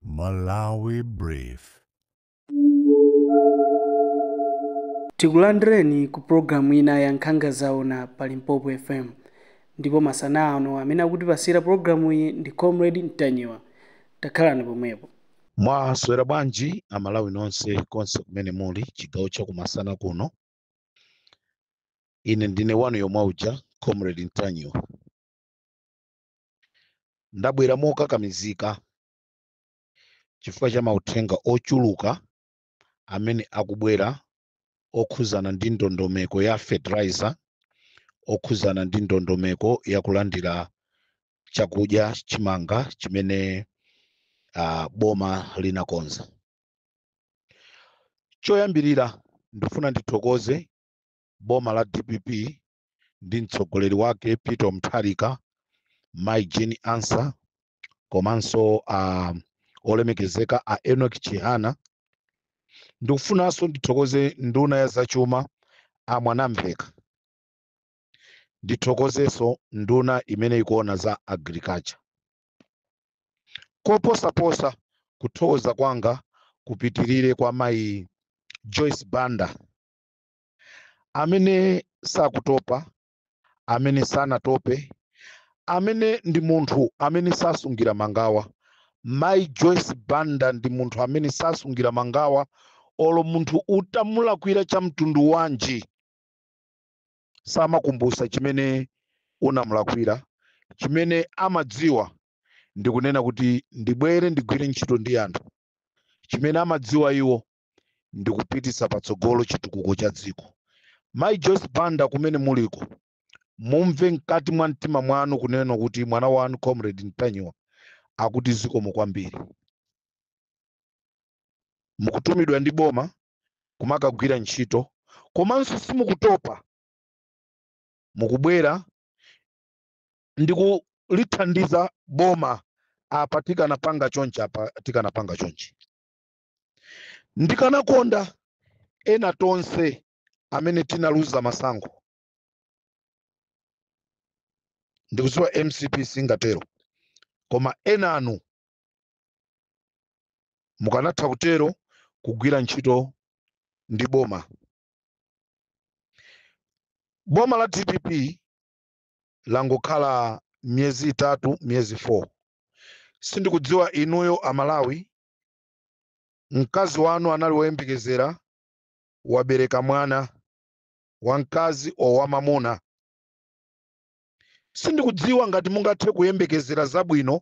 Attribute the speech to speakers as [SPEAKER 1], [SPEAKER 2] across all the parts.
[SPEAKER 1] Malawi Brief.
[SPEAKER 2] Tikulandireni ku pulogalamu ina ya Nkhanga Zaona pa Limpopo FM. Ndipo masana ano amene akutipasira pulogalamuyi ndi Comrade Ntanyiwa. Takhalani pomwepo. Mwaswera
[SPEAKER 3] bwanji Amalawi nonse konse kumene muli chigawo cha kumasana kuno. Ine ndine wanu yomwe uja Comrade Ntanyiwa. Ndabwera mokakamizika chifukwa cha mauthenga ochuluka amene akubwera okhuzana ndi ndondomeko ya fertilizer, okhuzana ndi ndondomeko ya kulandira chakudya chimanga chimene uh, boma linakonza. Choyambirira ndifuna ndithokoze boma la DPP ndi mtsogoleri wake Peter Mutharika, Mai Jane Ansah komanso a olemekezeka a Enoch Chihana. Ndikufunanso ndithokoze nduna ya zachuma a Mwanamveka. Ndithokozenso nduna imene ikuona za agriculture. Koposaposa kuthokoza kwanga kupitirire kwa mayi Joyce Banda amene sakutopa amene sanatope amene ndi munthu amene sasungira mangawa mai joyce banda ndi munthu amene sasungira mangawa olo munthu utamulakwira cha mtundu wanji samakumbutsa chimene unamulakwira chimene amadziwa ndikunena kuti ndibwere ndigwire ntchito ndi anthu chimene amadziwa iwo ndi kupititsa patsogolo chitukuko cha dziko mayi joyce banda kumene muliko mumve mkati mwa mtima mwanu kunena kuti mwana wanu comrade ntanyiwa akuti zikomo kwambiri mukutumidwa ndi boma kumakagwira ntchito komanso simukutopa mukubwera ndi kulithandiza boma apa tikanapanga chonchi apa tikanapanga chonchi ndikanakonda ena tonse amene tinaluza masankho ndikudziwa mcp singatero koma enanu mukanatha kutero kugwira ntchito ndi boma boma la dpp langokhala miyezi itatu miyezi 4 sindikudziwa inuyo amalawi mkazi wanu anali woyembekezera wabereka mwana wamkazi o wamamuna sindikudziwa ngati mungathe kuyembekezera zabwino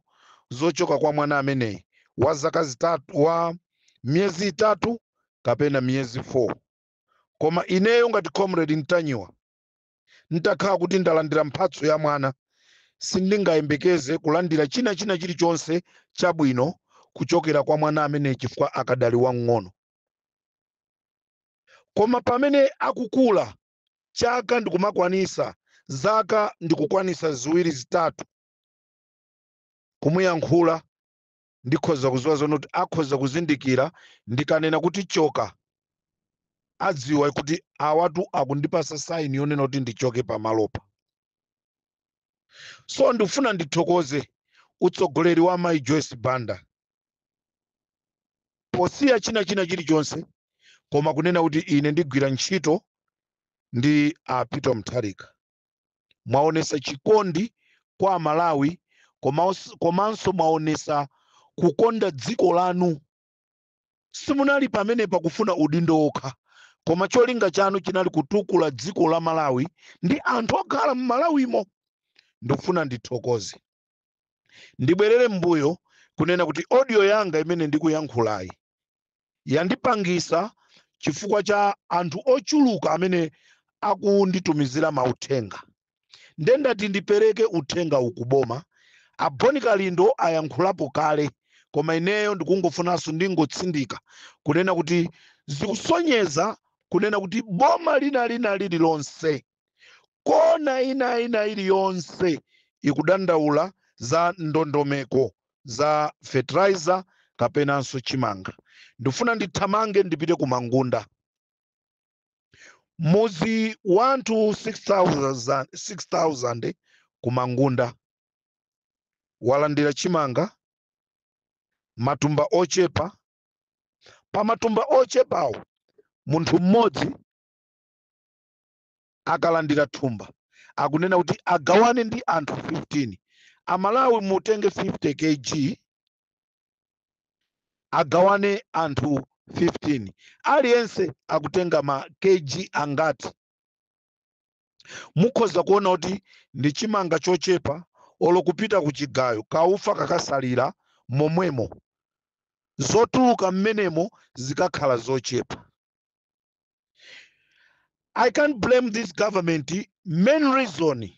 [SPEAKER 3] zochoka kwa mwana ameneyi wa zaka zitatu wa miyezi itatu kapena miyezi 4 koma ineyo ngati comrade mtanyiwa N'takhala kuti ndalandira mphatso ya mwana, sindingayembekeze kulandira china china chilichonse chabwino kuchokera kwa mwana ameneyi chifukwa akadali wamng'ono. Koma pamene akukula, chaka ndikumakwanisa, zaka ndikukwanisa ziwiri zitatu, kumuyankhula ndikhoza kuziwa zonena kuti akhoza kuzindikira ndikanena kuti choka adziwa kuti awatu akundipasa saini yonena kuti ndichoke pamalopa so ndikufuna ndithokoze utsogoleri wa mayi joyce banda posiya china china chilichonse koma kunena kuti ine ndigwira ntchito ndi a peter mtharika mwaonesa chikondi kwa amalawi komanso mwaonesa kukonda dziko lanu simunali pamene pakufuna udindo wokha koma cholinga chanu chinali kutukula dziko la malawi ndi anthu okhala mmalawimo ndikufuna ndithokoze ndibwerere mbuyo kunena kuti audio yanga imene ndikuyankhulayi yandipangisa chifukwa cha anthu ochuluka amene akunditumizira mauthenga nde ndati ndipereke uthenga uwu ku boma a bon kalindo ayankhulapo kale koma ineyo ndikungofunanso ndingotsindika kunena kuti zikusonyeza kunena kuti boma lina lina lililonse kona ina ina iliyonse ikudandaula za ndondomeko za fertilizer kapenanso chimanga ndifuna ndithamange ndipite ku mangunda mudzi wanthu 6000 ku mangunda walandira chimanga matumba ochepa pa matumba ochepawo munthu mmodzi akalandira thumba akunena kuti agawane ndi anthu 15 amalawi mutenge 50 kg agawane anthu 15 aliyense akutenga ma kg angati mukhoza kuona kuti ndi chimanga chochepa olo kupita ku chigayo kaufa kakasalira momwemo zotuluka mmenemo zikakhala zochepa I can't blame this government. Main reason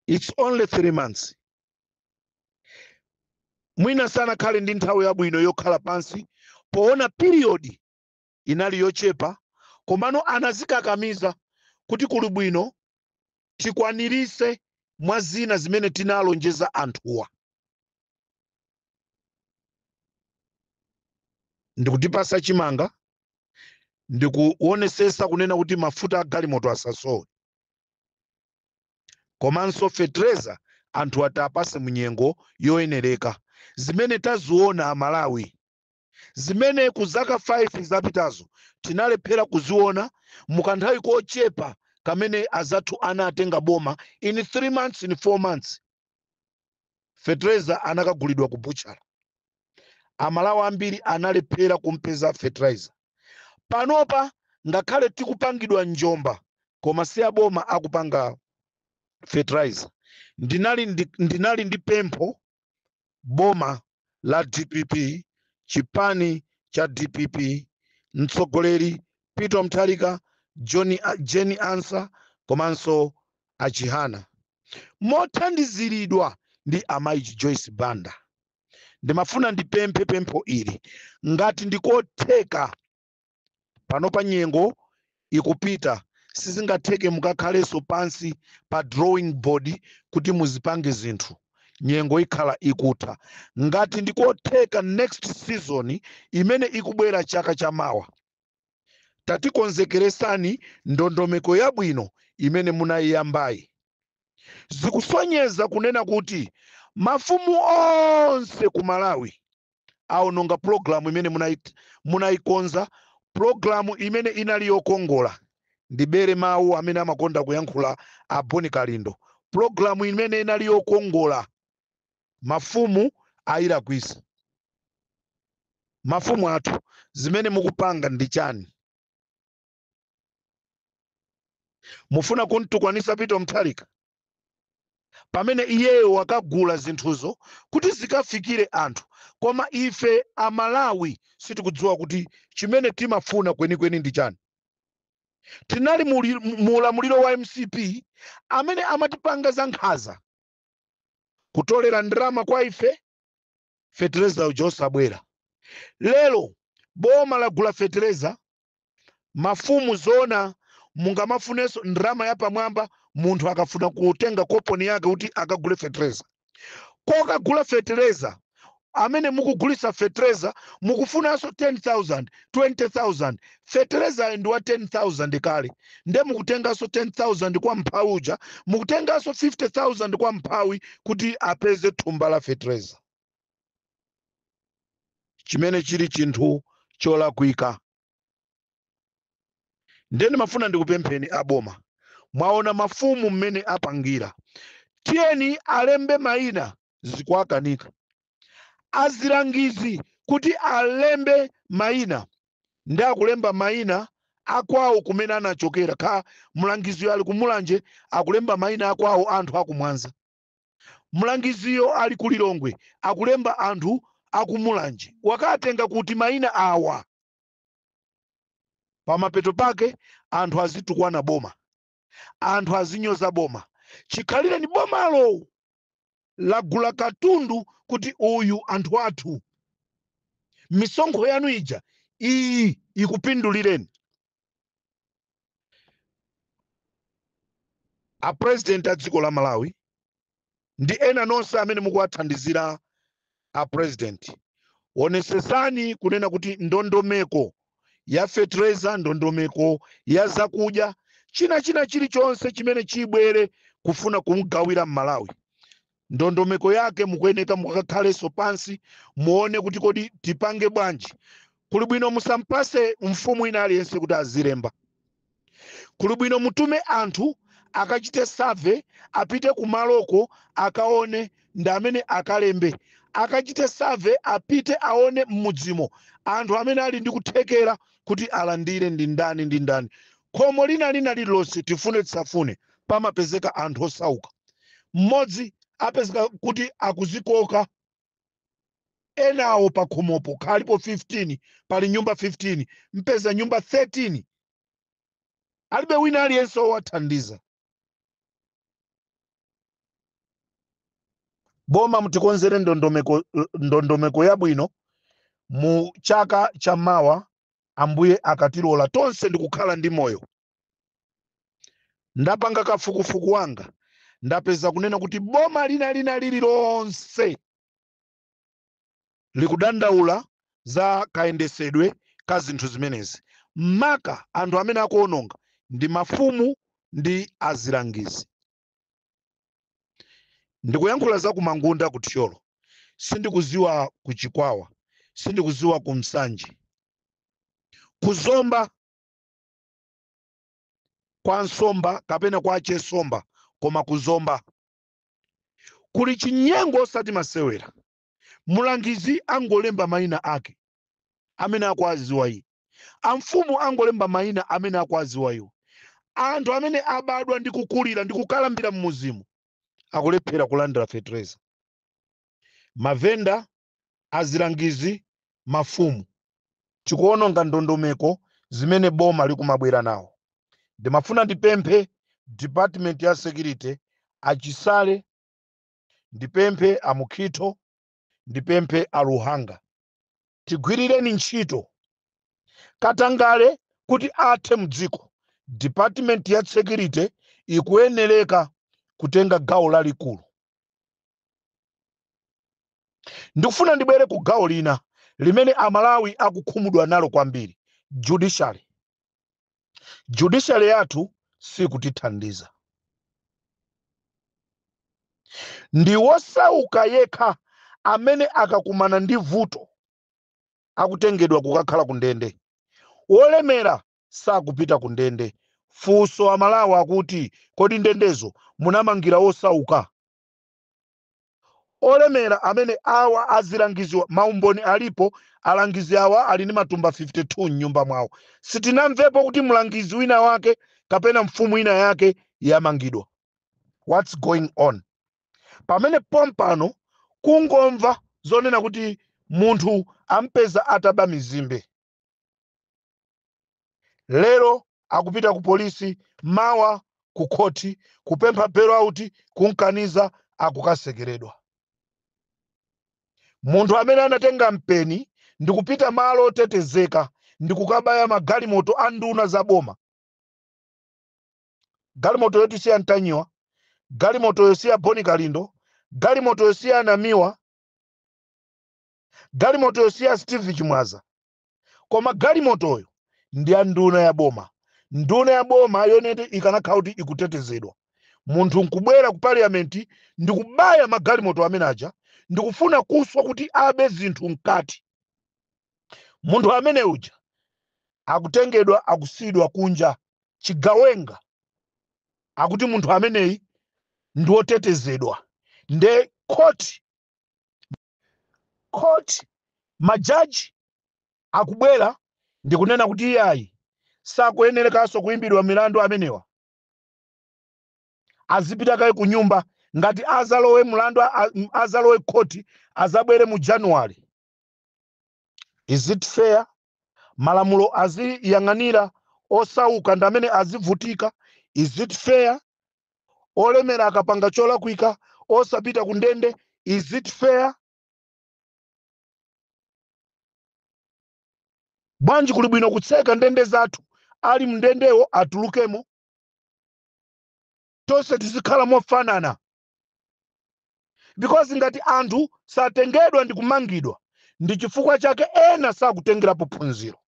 [SPEAKER 3] it's only three months. Mwina sanakhale ndi nthawi yabwino yokhala pansi poona period inali yochepa komano anazikakamiza kuti kuli bwino tikwanirise mwazina zimene tinalonjeza anthuwa ndi kutipasa chimanga ndi kuonesesa kunena kuti mafuta a galimoto asasowe komanso fetereza anthu atawapase munyengo yoyenereka zimene taziona aMalawi zimene ku zaka 5 zapitazo tinalephera kuziona mu kanthawi kochepa kamene azathu anatenga boma in 3 months in 4 months fetereza anakagulidwa ku butchala aMalawi ambiri analephera kumpeza fertilizer panopa ngakhale tikupangidwa njomba koma si a boma akupanga fertilizer ndinali ndi pempho boma la dpp chipani cha dpp mtsogoleri peter mutharika Jane Ansah komanso a Chihana mothandiziridwa ndi amayi joyce banda ndimafuna ndipemphe pempho ili ngati ndikotheka panopa nyengo ikupita sizingatheke mukakhalenso pansi pa drawing board kuti muzipange zinthu nyengo ikhala ikutha ngati ndikotheka next season imene ikubwera chaka cha mawa tatikonzekeresani ndondomeko yabwino imene munayiyambayi zikusonyeza kunena kuti mafumu onse ku malawi aononga pulogalamu imene munaikonza pulogalamu imene inali yokongola ndibere mawu amene amakonda kuyankhula a boni kalindo pulogalamu imene inali yokongola mafumu ayilakwisa mafumu athu zimene mukupanga ndi chani mufuna kumtukwanisa peter mutharika pamene iyeyo wakagula zinthuzo kuti zikafikire anthu koma ife aMalawi sitikudziwa kuti chimene timafuna kwenikweni ndi chani tinali mu ulamuliro wa mcp amene amatipanga za nkhaza kutolera ndalama kwa ife fetereza uja osabwera lero boma lagula fetereza mafumu zona mungamafunenso ndrama yapamwamba munthu akafuna kutenga koponi yake kuti akagule fetereza kokagula fetereza amene mukugulisa fetereza mukufunanso 10000 20000 fetereza ali ndi wa 10000 kale nde mukutenganso 10000 kwa mphawi uja mukutenganso 50000 kwa mphawi kuti apeze thumba la fetereza chimene chili chinthu cholakwika ndiye ndimafuna ndikupempheni aboma mwaona mafumu mmene apangira tiyeni alembe mayina zikuwakanika alangizi kuti alembe mayina ndi akulemba mayina akwawo kumene anachokera kaya mlangiziyo ali kumulanje akulemba mayina akwawo anthu akumwanza Mlangiziyo ali ku Lilongwe akulemba anthu aku Mulanje wakaatenga kuti maina awa? Pamapeto pake anthu azitukwana boma, anthu azinyoza boma chikhalireni bomalo lagula katundu kuti uyu anthu athu. Misonkho yanu ija iyi ikupindulireni. a president a dziko la malawi ndi ena nonse amene mukuwathandizira a president onesesani kunena kuti ndondomeko ya fetereza ndondomeko ya zakudya china china chilichonse chimene chibwere kufuna kumugawira mmalawi ndondomeko yake mukuyeneka mukakhalenso pansi muone kuti kodi tipange bwanji kuli bwino musampase mfumu ina aliyense kuti azilemba kuli bwino mutume anthu akachite survey apite kumaloko akaone ndi amene akalembe akachite survey apite aone m'mudzimo anthu amene ali ndi kuthekera kuti alandire ndi ndani ndi ndani khomo lina lina lililonse tifune tisafune pamapezeka anthu osauka mmodzi apezeka kuti akuzikoka enawo pakhomopo kaya alipo 15 pali nyumba 15 mpeza nyumba 13 alibe wina aliyense owathandiza boma mutikonzere ndondomeko yabwino mu chaka cha mawa ambuye akatilola tonse ndikukhala ndi moyo ndapanga kafukufuku wanga ndapeza kunena kuti boma lina lina lililonse likudandaula za kayendesedwe ka zinthu zimenezi maka anthu amene akuononga ndi mafumu ndi azilangizi ndikuyankhula za ku mangunda ku thyolo sindikuziwa ku chikwawa sindikuziwa ku nsanje ku zomba kwa nsomba kapena kwa chesomba koma kuzomba kuli chinyengo osati masewera mulangizi angolemba mayina ake amene akuwaziwa iye amfumu angolemba mayina amene akuwaziwa iwo anthu amene abadwa ndi kukulira ndi kukalambira mmuzimo akulephera kulandira fetereza mavenda azilangizi, mafumu. Chikuononga ndondomeko zimene boma likumabwera nawo. Ndimafuna ndipemphe department ya security, a Chisale, ndipemphe a Mukhito, ndipemphe a Luhanga. Tigwirireni ntchito. Katangale kuti athe mdziko, department ya security ikuyenereka kutenga gawo lalikulu. ndikufuna ndibwere ku gawo lina limene amalawi akukhumudwa nalo kwambiri judiciary judiciary yathu sikutithandiza ndi wosauka yekha amene akakumana ndi vuto akutengedwa kukakhala ku ndende wolemera sakupita ku ndende funso amalawi akuti kodi ndendezo munamangira wosauka olemera amene awa azilangiziwa maumboni alipo alangizi awa ali ndi matumba 52 m'nyumba mwawo sitinamvepo kuti mlangizi wina wake kapena mfumu ina yake yamangidwa what's going on pamene pompano kungomva zonena kuti munthu ampeza ataba mizimbe lero akupita ku polisi mawa ku khoti kupempha bail out kumkaniza akukasekeredwa munthu amene anatenga mpeni ndikupita malo otetezeka ndikukabaya magalimoto a nduna za boma galimoto yoti si ya ntanyiwa galimoto yosiya boni kalindo galimoto yosiya anamiwa galimoto yosiya steve chimwaza koma galimotoyo ndi ya nduna ya boma nduna ya boma yoneti ikanakhala kuti ikutetezedwa munthu nkubwera ku parliament ndikubaya magalimoto amene aja ndikufuna kuswa kuti abe zinthu mkati munthu amene uja akutengedwa akusiyidwa kunja chigawenga akuti munthu ameneyi ndi wotetezedwa nde court ma judge akubwera ndikunena kuti iyayi sakuyenerekanso kuimbidwa milandu amenewa azipita kaye ku nyumba ngati azalowe mlandu azalowe khoti azabwere mu january is it fair malamulo aziyang'anira osauka ndi amene azivutika is it fair olemera akapanga cholakwika osapita ku ndende is it fair bwanji kuli bwino kutseka ndende zathu ali mndendewo atulukemo tonse tizikhala mofanana because ngati anthu satengedwa ndi kumangidwa ndi chifukwa chake ena sakutengerapo phunziro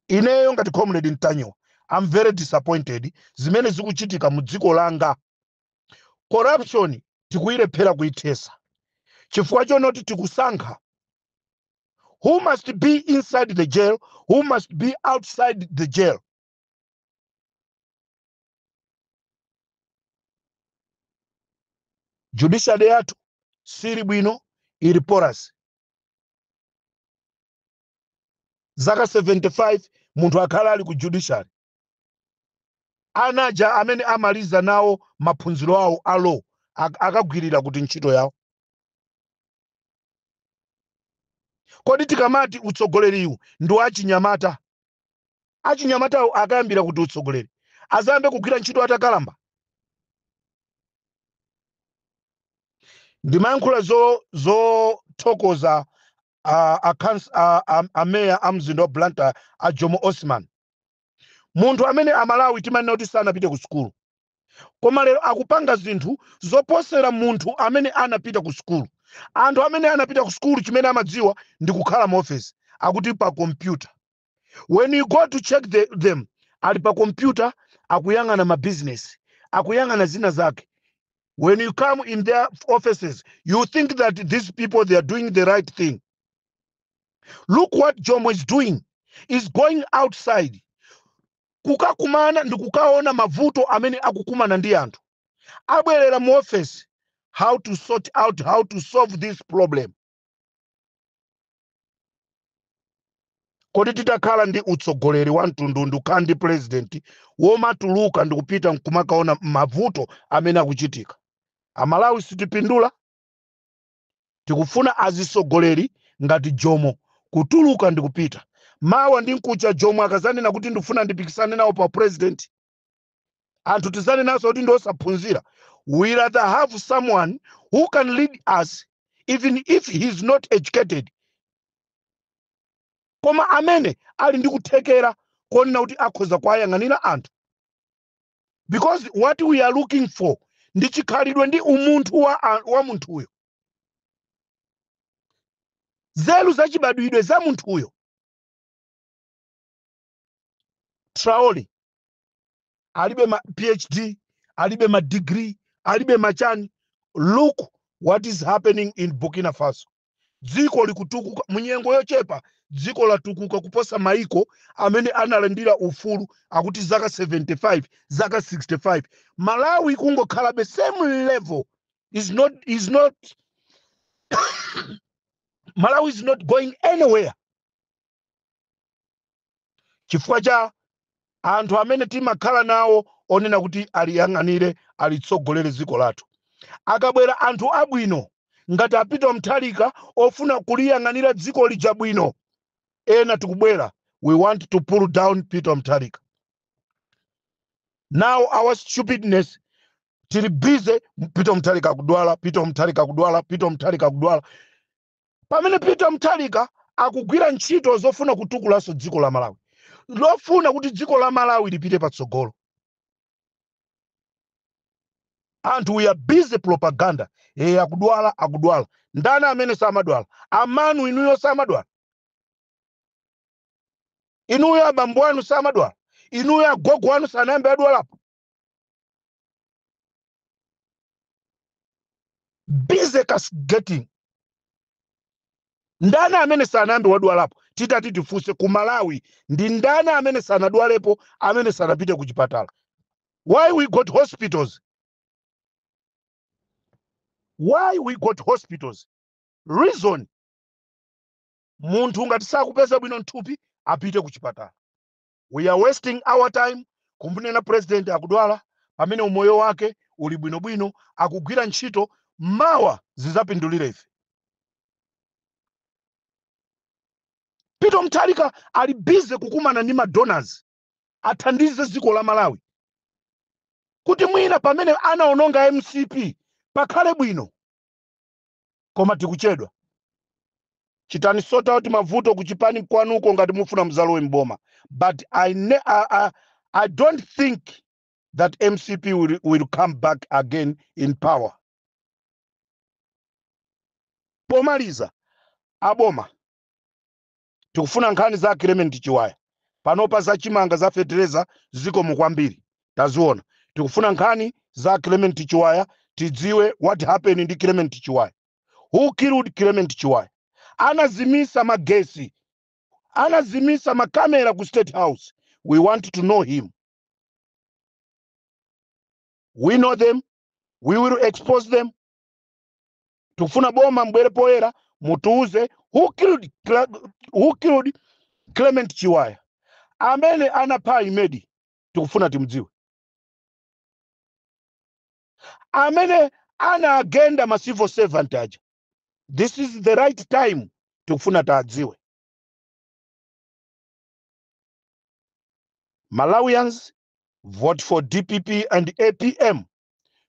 [SPEAKER 3] ineyo ngati comrade mtanyiwa i'm very disappointed zimene zikuchitika mu dziko langa corruption tikuyilephera kuyithesa chifukwa chonoti tikusankha who must be inside the jail who must be outside the jail judiciary yathu siili bwino ili porous zaka 75 munthu akhala ali ku judiciary Ana aja amene amaliza nawo maphunziro awo a Law akagwirira kuti ntchito yawo? Kodi tikamati utsogoleriwu ndi wa achinyamata, achinyamatawo akayambira kuti utsogoleri? Adzayambe kugwira ntchito atakalamba? Ndimayankhula zothokoza a, a, kans- a, a, a meya a mzinda wa blantyre a jomo osman munthu amene amalawi timanena kuti sanapite ku sukulu koma lero akupanga zinthu zoposera munthu amene anapita ku sukulu anthu amene anapita ku sukulu chimene amadziwa ndi kukhala mu ofesi akuti pa kompyuta when you go to check them ali pa kompyuta akuyang'ana ma business akuyang'ana zina zake when you come in their offices you think that these people they are doing the right thing look what jomo is doing is going outside kukakumana ndi kukaona mavuto amene akukumana ndi anthu abwerera mu office how to sort out how to solve this problem kodi titakhala ndi utsogoleri wa mtundu ndikukhala ndi purezidenti womatuluka ndikupita nkumakaona mavuto amene akuchitika amalawi sitipindula tikufuna azitsogoleri ngati jomo kutuluka ndikupita mawa ndi nkucha jomo akazanena kuti ndifuna ndipikisane nawo pa purezidenti anthu tizanenanso kuti ndi osaphunzira we rather have someone who can lead us even if he is not educated koma amene ali ndi kuthekera konena kuti akhoza kuwayang'anira anthu because what we are looking for ndi chikhalidwe ndi umunthu wa munthuyo nzeru zachibadwidwe za munthuyo traole alibe ma phd alibe ma degree alibe machani look what is happening in burkina faso dziko likutukuka munyengo yochepa dziko latukuka kuposa maiko amene analandira ufulu akuti zaka 75 zaka 65 malawi kungokhalabe same level is not malawi is not going anywhere chifukwa cha anthu amene timakhala nawo onena kuti aliyang'anire alitsogolere dziko lathu akabwera anthu abwino ngati apita mutharika ofuna kuliyang'anira dziko lija bwino ena tikubwera we want to pull down peter mutharika now our stupidness tili busy peter mutharika akudwala peter mutharika akudwala peter mutharika akudwala pamene peter mutharika akugwira ntchito zofuna kutukulanso dziko la malawi lofuna kuti dziko la malawi lipite patsogolo anthu we are busy propaganda e akudwala akudwala ndani amene samadwala amanu inuyo samadwala inuyo abambo anu samadwala inuyo agogo anu sanayambe adwalapo busy castigating ndani amene sanayambe wadwalapo titati tifunse ku malawi ndi ndani amene sanadwalepo amene sanapite ku chipatala why we got hospitals why we got hospitals reason munthu ngati sakupeza bwino nthupi apite ku chipatala We are wasting our time kumunena president akudwala pamene umoyo wake uli bwinobwino akugwira ntchito mawa zizapindulire ife. Peter Mutharika ali busy kukumana ndi madonors athandize dziko la Malawi kuti mwina pamene anaononga mcp pakhale bwino. koma tikuchedwa chitani sort out mavuto kuchipani kwanuko ngati mukufuna mudzalowe mboma but I don't think that mcp will, will come back again in power pomaliza aboma tikufuna nkhani za clement chiwaya panopa za chimanga za fetereza zikomo kwambiri taziona tikufuna nkhani za clement chiwaya tidziwe what happened ndi clement chiwaya who killed clement chiwaya anazimisa magesi anazimisa makamera ku state house we want to know him we know them we will expose them tikufuna boma mbwere poyera mutiuze who killed clement chiwaya amene anapha imedi tikufuna timdziwe amene anawagenda ma civil servant aja this is the right time tikufuna tidziwe malawians vote for dpp and apm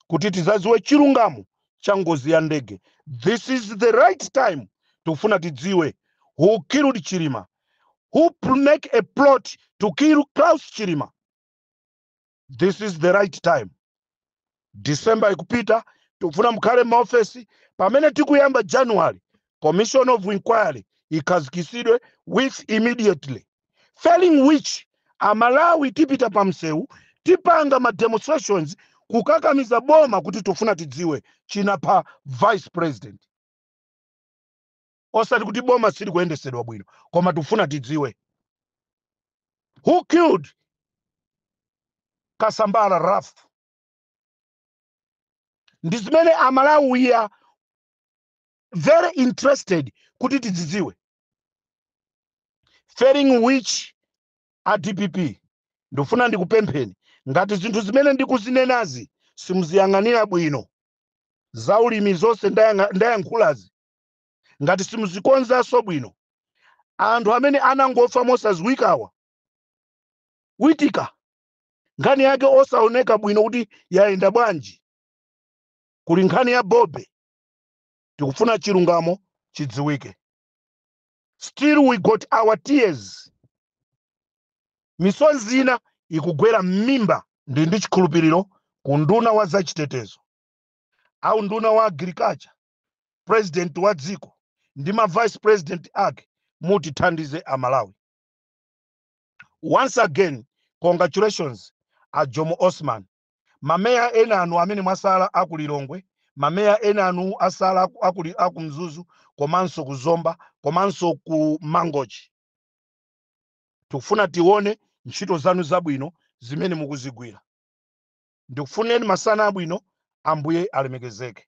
[SPEAKER 3] kuti tizaziwe chilungamo cha ngozi ya ndege this is the right time tikufuna tidziwe who killed chilima who make a plot to kill Klaus chilima this is the right time december ikupita tikufuna mukhale mmaofesi pamene tikuyamba january commission of inquiry ikhazikisidwe with immediately failing which amalawi tipita pa mseu tipanga ma demonstrations kukakamiza boma kuti tufuna tidziwe chinapha vice president osati kuti boma silikuyendesedwa bwino koma tufuna tidziwe who killed kasambala ralph ndi zimene amalawi we are very interested kuti tidzidziwe failing which a dpp ndikufuna ndikupempheni ngati zinthu zimene ndikuzinenazi simuziyang'anira bwino za ulimi zonse ndayankhulazi ngati simuzikonzanso bwino anthu amene anangofa mosadziwikawa witika nkhani yake osaoneka bwino kuti yayenda bwanji kuli nkhani ya bobe tikufuna chilungamo chidziwike still we got our tears misozi ina ikugwera m'mimba ndi ndi chikhulupiriro ku unduna wa zachitetezo a unduna wa agriculture president wa dziko ndi ma vice president ake mutithandize amalawi once again congratulations a jomo osman ma mayor enanu amene mwasala aku Lilongwe, ma mayor enanu asala aku Mzuzu komanso ku Zomba komanso ku Mangochi. Tikufuna tione ntchito zanu zabwino zimene mukuzigwira. Ndikufunireni masana abwino, Ambuye alemekezeke.